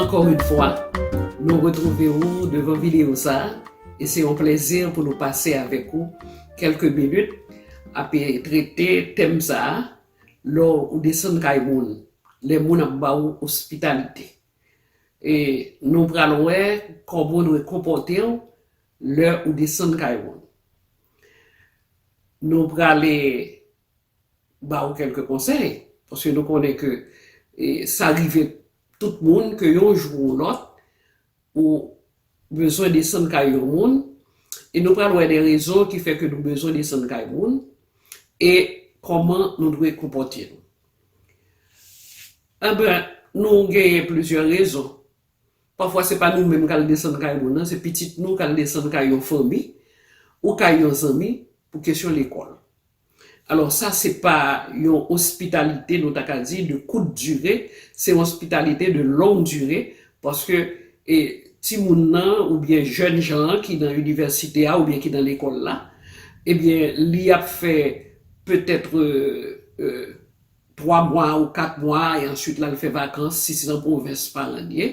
Ankò yn fwa nou retrouve ou devan video sa e se yon plezi pou nou pase avèk ou kelke minit ap trete tèm sa lè ou desann kay moun lè moun ap ba ou ospitalite e nou pral wè kòman ou dwe konpòtew lè ou desann kay moun. Nou prale ba ou kelke konsèy, paske nou konnen ke sa rive tout moun ke yon jou ou lòt ou bezwen desann kay yon moun, e nou pral wè de rezon ki fè ke nou bezwen desann kay moun e kòman nou dwe konpòte nou. Anben, nou genyen plizyè rezon Pafwa se pa nou menm k al desann kay moun nan, se pitit nou k al desann kay yon fanmi ou kay yon zanmi pou kesyon lekòl. Alò sa se pa yon ospitalite nou ta ka di de kout dire, se yon ospitalite de long dire paske timoun nan oubyen jèn jan an ki nan inivèsite a oubyen ki nan lekòl la, ebyen li ap fè petètre. 3 mwa ou 4 mwa e answit lal fè vakans si se nan pwovens paran l ye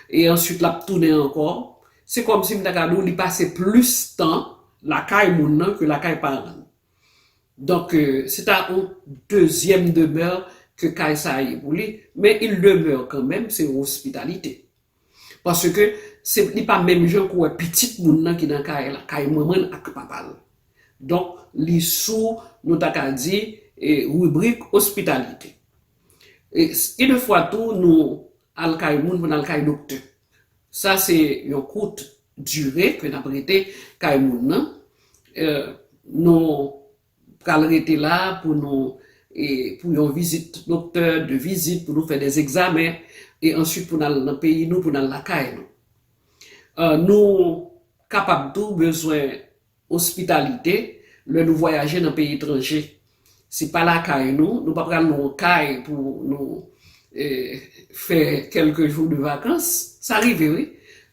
e answit lap tounen ankò se kòmsi m ta ka di w li pase plis tan lakay moun nan ke lakay paran l donk se ta yon dezyèm demè ke kay sa ye pou li men il demeure kanmenm se yon ospitalite. Paske se li pa menm jan pou wè pitit moun nan ki nan kay la, kay manman l ak papa l. Donk li sou nou ta ka di ribrik ospitalite. Gen de fwa tou nou al kay moun pou n al kay doktè. Sa se yon kout dire ke n ap rete kay moun nan. Nou. pral rete la pou nou e pou yon vizit doktè, 2 vizit pou nou fè des egzamen e answit pou nal nan peyi nou pou nal lakay nou. Nou kapab tou bezwen ospitalite lè nou vwayaje nan peyi etranje. Se pa lakay nou, nou pa pral nan yon kay pou nou e fè kelke jou de vakans. Sa rive wi,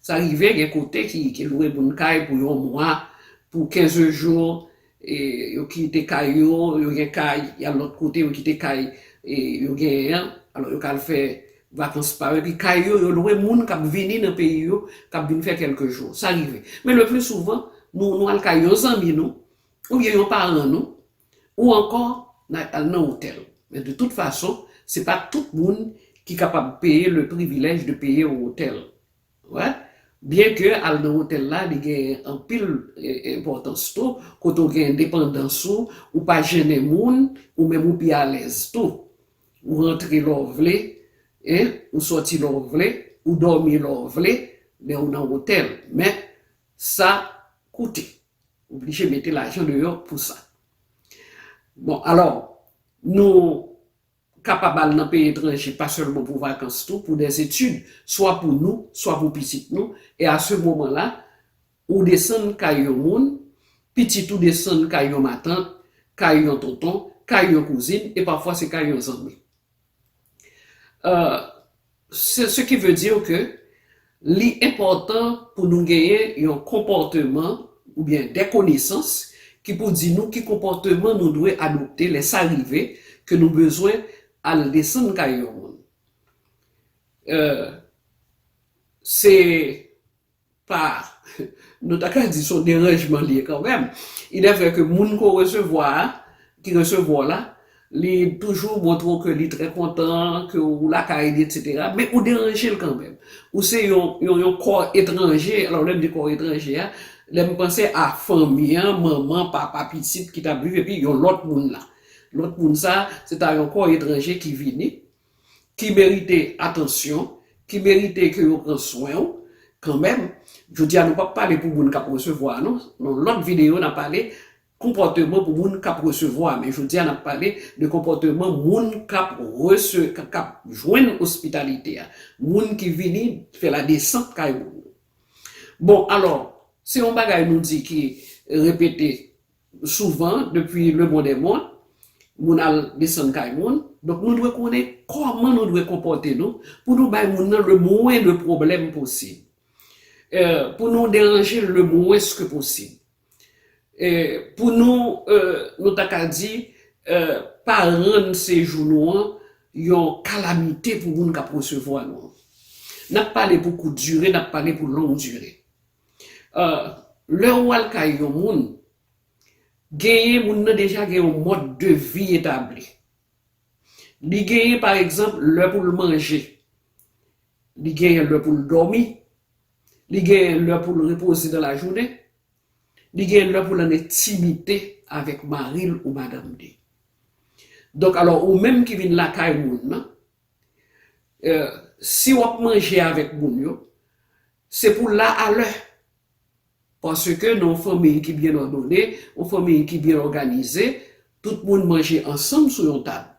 sa rive gen kote ki lwe moun kay pou yon mwa, pou 15 jours Yo kite kay yo, yo gen kay, y al lòt kote, yo kite kay yo genyen an, alò yo ka al fè vakans pa yo. Epi kay yo, yo lwe moun k ap vini nan peyi yo, k ap vin fè kèlke jou. Sa rive. Men lepli souvan, nou al kay yon zanmi nou, oubyen yon paran nou, ou ankò n a al nan otèl. Men de tout fason, se pa tout moun ki kapab peye le privilèj de peye yon otèl. Wè, byen ke al nan otèl la li gen anpil enpòtans tou, kote w gen endepandans ou, ou pa jennen moun, ou menm ou pi alèz tou. Ou rantre lè w vle, en, ou sòti lè w vle, ou dòmi lè w vle, lè ou nan otèl. Men, sa koute. Ou blije mete lajan deyò pou sa. Bon, alò, nou kapab al nan peyi etranje pa sèlman pou vakans tou, pou des études, swa pou nou, swa pou pitit nou, e a se moman la, ou desann kay yon moun, pitit ou desann kay yon matant, kay yon tonton, kay yon kouzin, e pafwa se kay yon zanmi. Ce qui veut dire que li enpòtan pou nou genyen yon konpòteman oubyen des connaissances ki pou di nou ki konpòteman nou dwe adopte lè sa rive ke nou bezwen al desann kay yon moun. Euh, se. pa, nou ta ka di son deranjman li ye kanmenm. Il est vrai ke moun ke w resevwa a, ki resevwa w la, li toujou montre w ke li trè kontan ke w lakay li etc. Men ou deranje l kanmenm. Ou se yon, yon, yon kò etranje, alò lè m di kò etranje a, lè m panse a fanmi an, manman, papa, pitit ki t ap viv epi yon lòt moun la. Lòt moun sa, se ta yon kò etranje ki vini. ki merite atansyon, ki merite ke yo pran swen ou kanmenm. Jodi a nou pap pale pou moun kap resevwa non, nan lòt videyo nan pale konpòteman pou moun kap resevwa, men jodi a nap pale de konpòteman moun kap rese, kap jwenn ospitalite a, moun ki vini fè la desant kay moun. Bon alò, se yon bagay nou di ki repete Souvan, depi le bon dè mòn, moun al desann kay moun, donk nou dwe konnen kòman nou dwe konpòte nou pou nou bay moun nan le mwen de pwoblèm posib, pou nou deranje l le mwens ke posib, pou nou, nou ta ka di, pa rann sejou nou an yon kalamite pou moun k ap resevwa nou an. N ap pale pou kout dire, n ap pale pou long dire. Lè ou al kay yon moun, genyen moun nan deja gen yon mòd de vi etabli. Li genyen pa egzanp lè pou l manje, li genyen lè pou l dòmi, li genyen lè pou l repoze nan lajounen, li genyen lè pou l an entimite avèk mari l ou madanm li. Donk alò ou menm ki vin lakay moun nan, Si w ap manje avèk moun yo, se pou w la alè. Paske nan yon fanmiy ki byen òdone, yon fanmiy ki byen òganize, tout moun manje ansanm sou yon tab.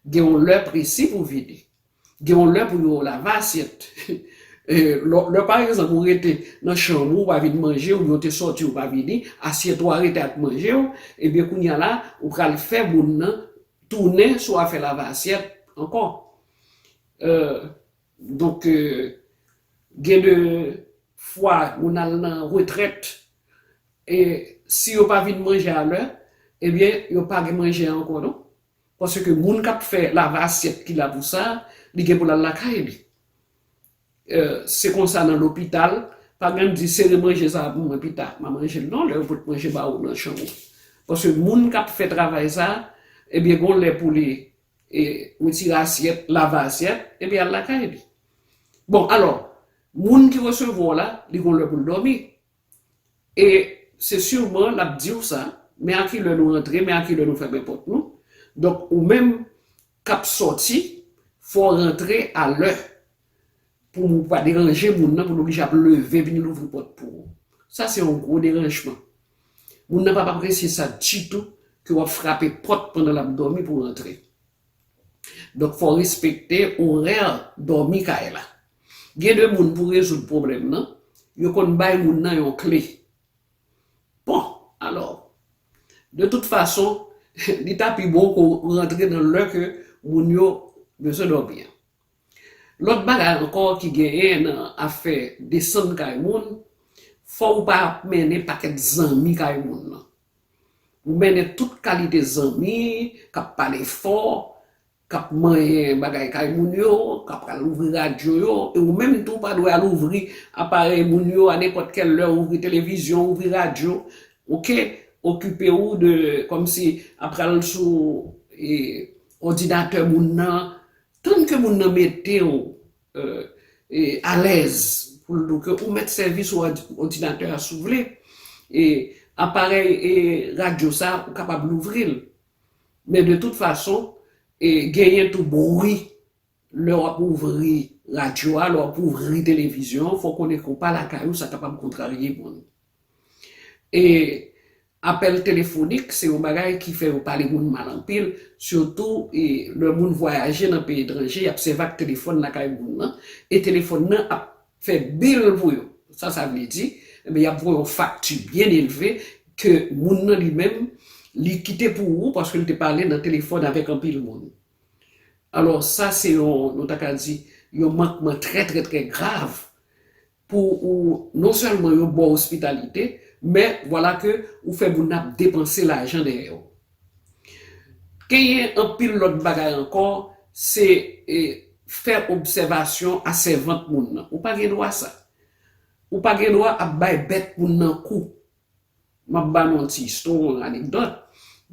Gen yon lè presi pou vini. Gen yon lè pou yo lave asyèt. Lè pa egzanp ou rete nan chanm ou, ou pa vin manje, oubyen ou te sòti ou pa vini, asyèt ou a rete ak manje ou, ebyen kounye a la ou pral fè moun nan Tounen sou afè lave asyèt ankò. Donk gen de fwa moun al nan retrèt e si yo pa vin manje a lè, ebyen yo pa gen manje ankò non. Paske moun k ap fè lave asyèt ki la pou sa, li gen pou l al lakay li. Se konsa nan lopital, pa menm di sere manje sa a pou mwen pita m'a manje l non lè yo pot manje ba ou nan chanm ou. Paske moun k'ap fè travay sa a ebyen gon lè pou li retire asyèt, lave asyèt epi al lakay li. Bon alò, moun ki resevwa w la li gon lè pou l dòmi, E se sûrement l ap di w sa, men a ki lè nou rantre, men a ki lè nou fèmen pòt nou. Donk ou menm k ap sòti, fò w rantre a lè pou ou pa deranje moun nan pou l oblije ap leve vin louvri pòt pou ou. Sa se yon gwo deranjman. Moun nan p ap apresye sa ditou ke w ap frape pòt pandan l ap dòmi pou w rantre. Donk fò respekte orè dòmi kay la. Gen de moun pou rezoud pwoblèm nan, yo konn bay moun nan yon kle. Bon, alò, de tout fason, li ta pi bon ke w rantre nan lè ke moun yo bezwen dòmi an. Lòt bagay ankò ki genyen nan afè desann kay moun, fò ou pa mennen pakèt zanmi kay moun nan. Ou mennen tout kalite zanmi k ap pale fò, k ap manyen bagay kay moun yo, k ap al ouvri radyo yo, e ou menm tou pa dwe al ouvri aparèy moun yo a nenpòt kèl lè, ouvri televizyon, ouvri radyo, ok, okipe ou de kòmsi a pral sou òdinatè moun nan, tann ke moun nan mete ou alèz pou l ke ou mèt sèvi sou òdinatè a si w vle. E aparèy radyo sa ou kapab louvri l. Men de tout fason, genyen tou bwi lè w ap ouvri radyo a, lè w ap ouvri televizyon an, fò w konnen ke w pa lakay ou sa kapab kontrarye moun. E apèl telefonik se yon bagay ki fè yo pale moun mal anpil, sitou lè moun vwayaje nan peyi etranje, y ap sèvi ak telefòn lakay moun nan, e telefòn nan ap fè bil pou yo. Sa sa vle di? Enben y ap voye yon fakti byen elve ke moun nan li menm li kite pou ou paske li te pale nan telefòn avèk anpil moun. Alò sa se yon, nou ta ka di, yon mankman trè trè trè grav pou ou non sèlman yo baw ospitalite men vwala ke ou fè moun ap depanse lajan dèyè ou genyen anpil lòt bagay ankò se fè obsèvasyon a sèvant moun nan ou pa gen dwa sa ou pa gen dwa ap bay bèt moun nan kou M ap ba nou yon ti istwa, yon anekdòt.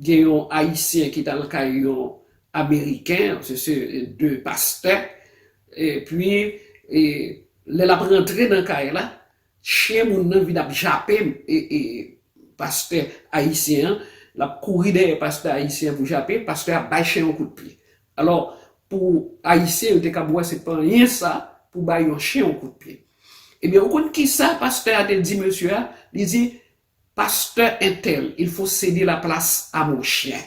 Gen yon Ayisyen ki t al kay yon Ameriken, se se de pastè, epi lè l ap rantre nan kay la, chyen moun nan vin ap jape pastè Ayisyen an, l ap kouri dèyè pastè Ayisyen an pou jape l, pastè a bay chyen an yon kout pye. Alò, pou Ayisyen yo te kab wè se pa anyen sa pou bay yon chen yon kout pye. Ebyen, ou konn ki sa pastè a te di mesye a? Li di, Pastè entèl, il faut ceder la place à mon chien.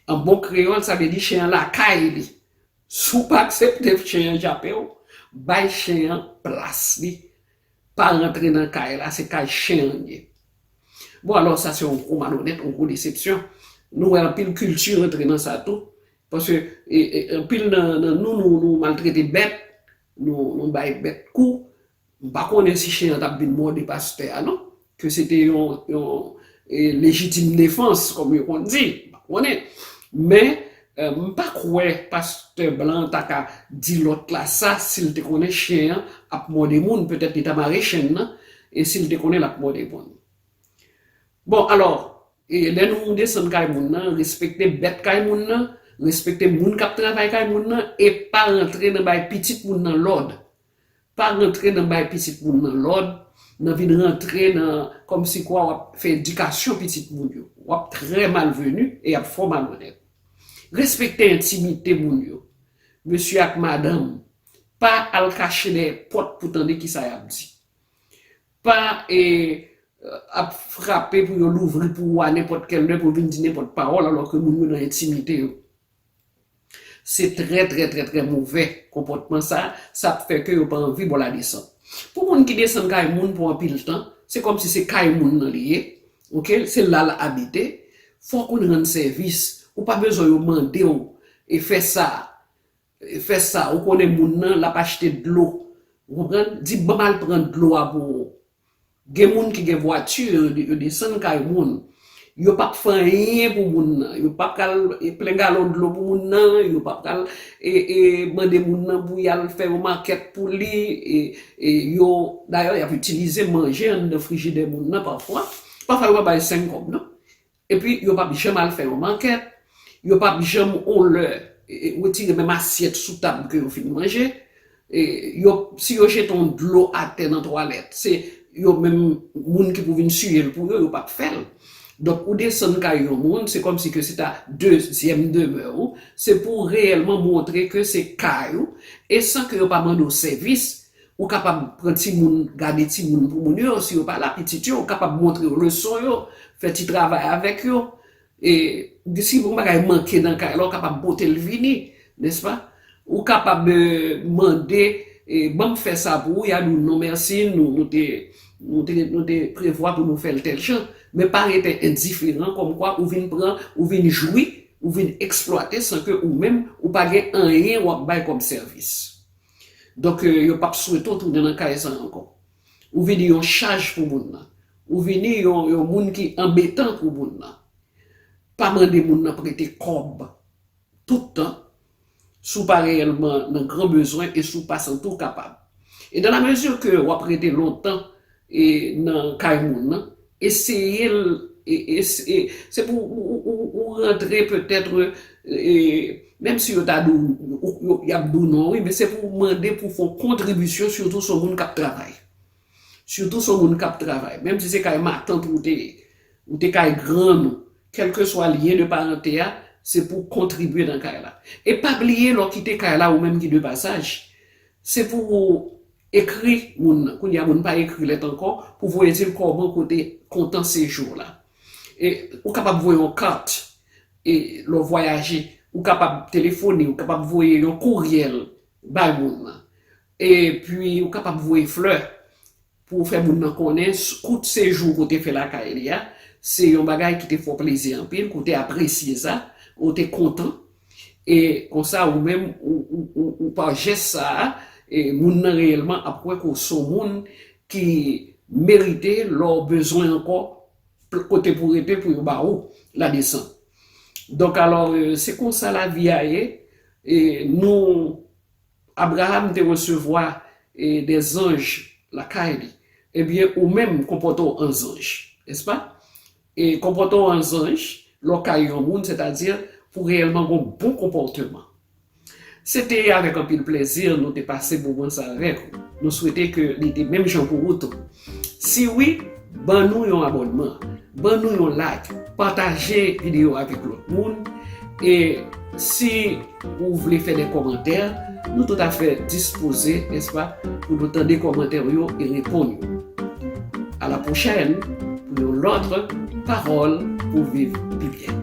An bon kreyòl, sa vle di chen an lakay li. Si w pa aksepte chen an jape w, bay chen an plas li. Pa rantre nan kay la se kay chen an ye. Bon alò sa se yon gwo malonèt, yon gwo desepsyon. Nou wè anpil kilti rantre nan sa tou. Paske anpil nan nou nou maltrete bèt, nou bay bèt kou. M pa konnen si chen an t ap vin mòde pastè a non. Ke se te yon lejitime defans, kòm yo konn di, m pa konnen. Men, m pa kwè pastè blan an ta ka di lòt la sa si l te konnen chen an ap mòde moun. Petèt li ta mare chen nan e si l te konnen l ap mòde moun. Bon, alò, lè nou desann kay moun nan, respekte bèt kay moun nan, respekte moun k ap travay kay moun nan e pa rantre nan bay pitit moun nan lòd. Pa rantre nan bay pitit moun nan lòd, nan vin rantre nan kòmsikwa w ap fè edikasyon pitit moun yo. W ap trè malveni e y ap fò malonèt. Respekte entimite moun yo. Mesye ak madanm, pa al kache dèyè pòt pou tande ki sa y ap di. Pa ap frape pou yo louvri pou ou a nenpòt kèl lè pou vin di nenpòt pawòl alò ke moun yo nan entimite yo. Se trè trè trè trè movè konpòtman sa, sa ap fè ke yo pa anvi bo la desann. Pou moun ki desann kay moun pou anpil tan, se kòm si se kay moun nan li ye, ok, se la l abite, fò w konn rann sèvis, ou pa bezwen yo mande w e fè sa, fè sa, ou konnen moun nan l ap achte dlo, ou konprann, di ban m al pran dlo a pou ou, Gen moun ki gen vwati yo desann kay moun yo pap fè anyen pou moun nan yo pap pral plen galon dlo pou moun nan yo pap pral mande moun nan pou yal fè yon makèt pou li yo dayè yap itilize manje anndan frijidè moun nan pafwa pafwa yo pa bay 5 kòb non Epi yo pap janm al fè yon mankèt, yo pap janm yon lè wetire menm asyèt sou tab ke yo fin manje, yo si yo jete yon dlo atè nan twalèt se yo menm moun ki pou vin siye l pou yo, yo pap fè l. Donk ou desann kay yon moun se kòmsi ke se ta dezyèm demè ou, se pou reyèlman montre ke se kay ou e san ke yo pa mande w sèvis Ou kapab pran timoun, gade timoun pou moun yo, si yo pa la, pitit yo, ou kapab montre yo leson yo, fè ti travay avèk yo. E si yon bagay manke nan kay la, ou kapab pote l vini, nèspa? Ou kapab mande, ban m fè sa pou ou, y a di w non mèsi, nou te prevwa pou nou fè l tèl jan. Men pa rete endiferan kòmkwa ou vin pran, ou vin jwi, ou vin eksplwate san ke ou menm ou pa gen anyen w ap bay kòm sèvis. Donk yo pap swete w tounen nan kay sa a ankò. Ou vini yon chaj pou moun nan. Ou vini yon moun ki anbetan pou moun nan. Pa mande moun nan prete kòb tout tan si w pa reyèlman nan gran bezwen e si w pa santi w kapab. E dan la mezi ke w ap rete lontan e nan kay moun nan eseye l e se pou ou rantre petetre e menm si yo ta di w yap di w non wi men se pou ou mande pou fon kontribisyon sitou son moun kap travay sitou son moun kap travay menm si se kay matant ou te ye ou te kay grann ou kelkeswa lyen de parante a se pou w kontribye nan kay la e pa bliye lè w kite kay la ou menm ki de pasaj se pou ou Ekri moun nan. Kounye a moun pa ekri lèt ankò pou voye di l kòman kote kontan sejou w la. E ou kapab voye yon kat e lè w vwayaje. Ou kapab telefone, ou kapab voye yon kouryèl bay moun nan. E pi ou kapab voye flè pou w fè moun nan konnen kout sejou w ke w te fè lakay li a se yon bagay ki te fè w plezi anpil, ke w te apresye sa, ou te kontan. E konsa ou menm ou pa jès sa a, moun nan reyèlman ap wè ke w se w moun ki merite lè w bezwen ankò kote pou rete pou yo ba ou la desant. Donk alò se konsa lavi a ye, nou Abraham te resevwa de zanj lakay li, ebyen ou menm konpòte w an zanj, nèspa? Konpòte w an zanj lè w kay yon moun, sètadi pou reyèlman gen yon bon konpòteman. Se te avèk anpil plezi nou te pase moman sa avèk ou. Nou swete ke li te menm jan pou ou tou. Si wi, ban nou yon abònman, ban nou yon like, pataje videyo a avèk lòt moun, e si. Ou vle fè de kòmantè, nou tout afè dispoze, nèspa, pou nou tande kòmantè ou yo e reponn yo. A la pwochèn pou yon lòt Pawòl pou w viv pi byen.